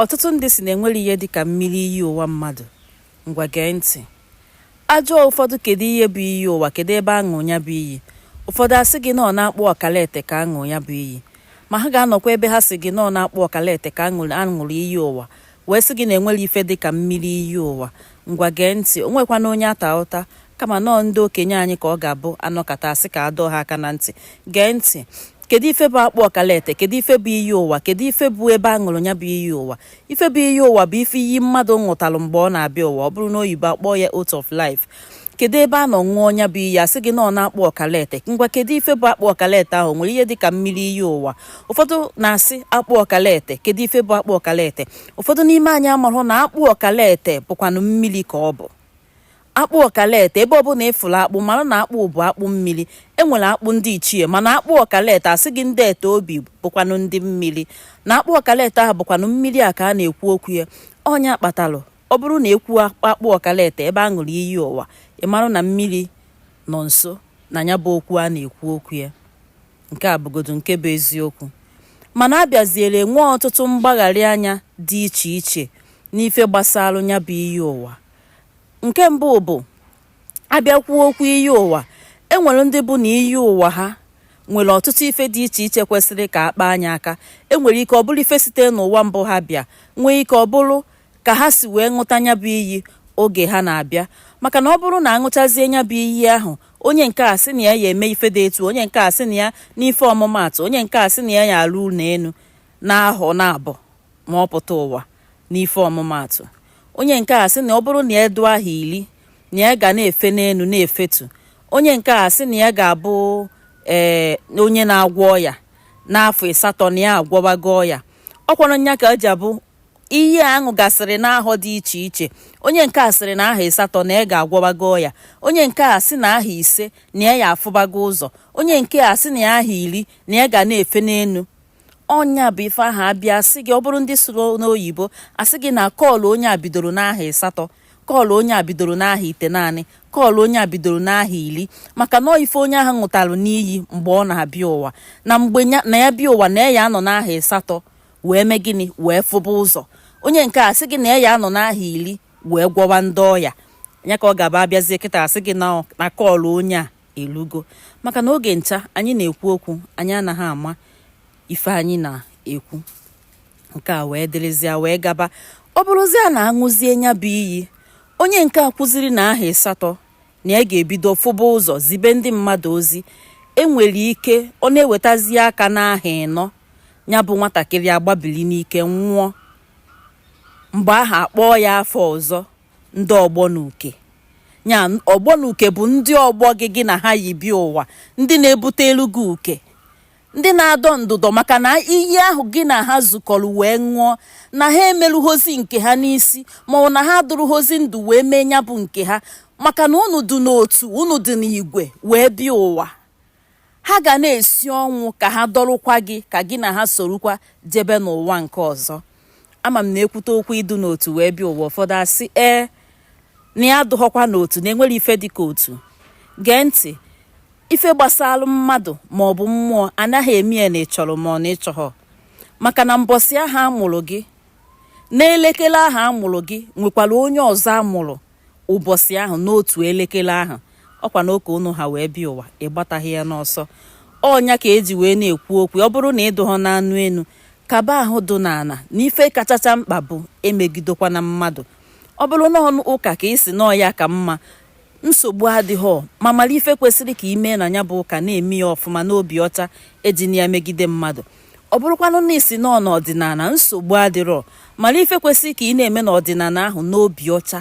Ọtụtụ ndị si na enwere ihe dị ka mmiri iyi ụwa mmadụ. Ngwa gee ntị. Ajụọ ụfọdụ kedu ihe bụ iyi ụwa, kedu ebe aṅụ ya bụ iyi. Ụfọdụ asị gị na ọ n'akpụ ọkalete ka aṅụ ya bụ iyi. Ma ha ga-anọkwa ebe ha si gị na ọ n'akpụ ọkalete ka aṅụrụ iyi ụwa wee sị gị na enwere ife dị ka mmiri iyi ụwa. Ngwa gee ntị, o nwekwana onye ata ụta kama na ọ ndị okenye anyị ka ọ ga-abụ anọkata asị ka adọọ ha aka na ntị. Gee ntị. kedu ife bụ akpụ ọkalete kedu ife bụ iyi ụwa kedu ife bụ ebe a ṅụrụ ya bụ iyi ụwa ife bụ iyi ụwa bụ ife iyi mmadụ ṅụtalụ mgbe ọ na-abịa ụwa ọ bụrụ na oyibo akpọọ ya oath of life kedu ebe a nọ ṅụọ nya bụ iyi asị gị na ọ n'akpụ ọkalete ngwa kedu ife bụ akpụ ọkalete ahụ nwere ihe dịka mmiri iyi ụwa ụfọdụ na-asị akpụ ọkalete kedu ife bụ akpụ ọkalete ụfọdụ n'ime anyị amarọ na akpụ ọkalete bụkwanụ mmiri ka ọ bụ Akpụ ọkalete, ebe ọbụla ị fụrụ akpụ, mara na akpụ bụ akpụ mmiri. E nwere akpụ ndị ichie, mana akpụ ọkalete asị gị ndị ete obi bụkwanụ ndị mmiri. Na akpụ ọkalete ahụ bụkwanụ mmiri a ka a na-ekwu okwu ya. Ọ nya kpatalụ, ọ bụrụ na ekwu akpụ ọkalete ebe a ṅụrụ iyi ụwa, ị mara na mmiri nọ nso na ya bụ okwu a na-ekwu okwu ya. Nke a bụgodu nke bụ eziokwu. Mana a bịaziere nwee ọtụtụ mgbagharị anya dị iche iche n'ife gbasara ya bụ iyi ụwa. nke mbụ bụ abịakwuo okwu iyi ụwa e nwere ndị bụ na iyi ụwa ha nwere ọtụtụ ife dị iche iche kwesịrị ka a kpaa nya aka e nwere ike ọ bụrụ ife site n'ụwa mbụ ha bịa nwee ike ọ bụrụ ka ha si wee ṅụta nya bụ iyi oge ha na-abịa maka na ọ bụrụ na aṅụchazie nya bụ iyi ahụ onye nke a sị na ya ya eme ife dị etu onye nke a sị na ya n'ife ọmụmaatụ onye nke a sị na ya ya alụ ụlọ enu n'ahọ naabọ ma ọ pụta ụwa n'ife ọmụmaatụ onye nke a sị na ọ bụrụ na ya dị aha iri na ya ga na-efe n'enu na-efetu onye nke a sị na ya ga-abụ onye na-agwọ ọya n'afọ ịsatọ na ya agwọwago ọya ọkwanụ nya ka eji abụ ihe aṅụ gasịrị n'ahọ dị iche iche onye nke a sịrị na aha ịsatọ na ya ga-agwọwago ọya onye nke a sị na aha ise na ya ya afụbago ụzọ onye nke a sị na ya aha iri na ya ga na-efe n'enu ọ nya bụ ife ahụ abịa asị gị ọ bụrụ ndị sụrụ n'oyibo asị gị na call onye a bidoro n'aha ịsatọ call onye a bidoro n'aha itenaanị call onye a bidoro n'aha iri maka na ife onye ahụ ṅụtalụ n'iyi mgbe ọ na-abịa ụwa na mgbe na ya bịa ụwa na ya anọ n'aha ịsatọ wee mee gịnị wee fụba ụzọ onye nke a sị gị na ya anọ n'aha iri wee gwọwa ndị ọya ya ka ọ ga-abụ abịazie kịta asị gị na call onye a elugo maka na oge ncha anyị na-ekwu okwu anyị anaghị ama ife anyị na-ekwu nke a wee dịrịzịa wee gaba ọ bụrụzịa na aṅụzie nya bụ iyi onye nke a kwuziri na ahọ ịsatọ na ya ga-ebido fụba ụzọ zibe ndị mmadụ ozi enwere ike ọ na-ewetazi aka n'ahọ ịnọ nya bụ nwatakịrị agbabili n'ike nwụọ mgbe ahụ akpọọ ya afa ọzọ ndị ọgbọ na uke ya ọgbọ na uke bụ ndị ọgbọ gị gị na ha yi bịa ụwa ndị na-ebutelu gị uke ndị na-adọ ndụdọ maka na iyi ahụ gị na ha zukọrọ wee ṅụọ na ha emerughozi nke ha n'isi ma ọ na ha adụrụghọzi ndụ wee mee nya bụ nke ha maka na unu dị n'otu unu dị n'igwe wee bịa ụwa Ha ga na-esi ọnwụ ka ha dọrụkwa gị ka gị na ha sorukwa jebe n'ụwa nke ọzọ. Ama m na e kwute okwu ịdụ n'otu wee bịa ụwa ụfọdụ asị ee na ya adụghọkwa n'otu na enwerọ ife dị ka otu. Gee ntị, ife gbasara mmadụ ma ọ bụ mmụọ anaghị eme ya na ị chọrọ ma ọ na ịchọghọ maka na mbọsị ahụ a mụrụ gị n'elekere ahụ a mụrụ gị nwekwara onye ọzọ a mụrụ ụbọchị ahụ n'otu elekere ahụ ọkwa na oke unu ha wee bịa ụwa ịgbataghị ya n'ọsọ ọ nya ka e ji wee na-ekwu okwu ọ bụrụ na ịdụghọ n'anụ enu kaba ahụ dụ n'ana na ife kachacha mkpa bụ emegidekwana mmadụ ọ bụrụ na ọ n'ụka ka ị sị na ọ ya ka mma nsogbu adịghọ ma mara ife kwesịrị ka i me na nya bụ ụka na-eme ya ọfụma n'obi ọcha ejina ya megide mmadụ ọ bụrụkwanụ na ị sị na ọ n'ọdịnala nsogbu adịrọ mara ife kwesịrị ka ị na-eme n'ọdịnala ahụ n'obi ọcha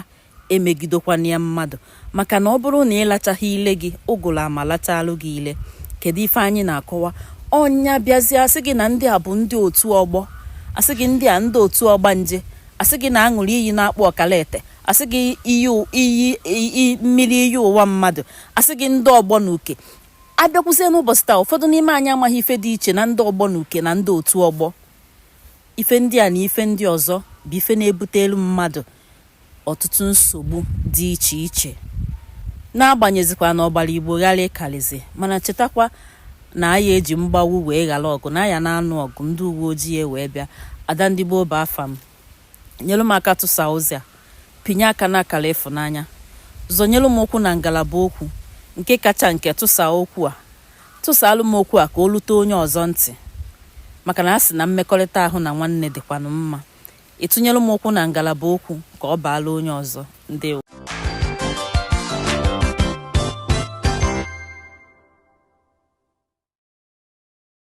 emegidekwana ya mmadụ maka na ọ bụrụ na ị lachaghị ile gị ụgụrụ ama lachalụ gị ile kedu ife anyị na-akọwa ọ nya bịazie asị gị na ndị a bụ ndị otu ọgbọ asị gị ndị a ndị otu ọgbanje asị gị na aṅụrụ iyi n'akpụ ọkalete asị gị iyi mmiri iyi ụwa mmadụ asị gị ndị ọgbọ na uke a bịakwuzie n'ụbọchị taa ụfọdụ n'ime anyị amaghị ife dị iche na ndị ọgbọ na uke na ndị otu ọgbọ ife ndị a na ife ndị ọzọ bụ ife na-ebutelu mmadụ ọtụtụ nsogbu dị iche iche n'agbanyezikwa na ọgbara igbo gharịị karizi mana chetakwa na aya eji mgbagbu wee ghara ọgụ na aya na-anụ ọgụ ndị uwe ojii wee bịa ada ndị gboo bụ afa m nyelu m aka tụsa ozi a pinye aka n'akara ịfụnanya zọnyelu m ụkwụ na ngalaba okwu nke kacha nke tụsa okwu a tụsaalụ m okwu a ka o lute onye ọzọ ntị maka na a sị na mmekọrịta ahụ na nwanne dịkwanụ mma ị tụnyelu m okwu na ngalaba okwu ka ọ baala onye ọzọ ndewo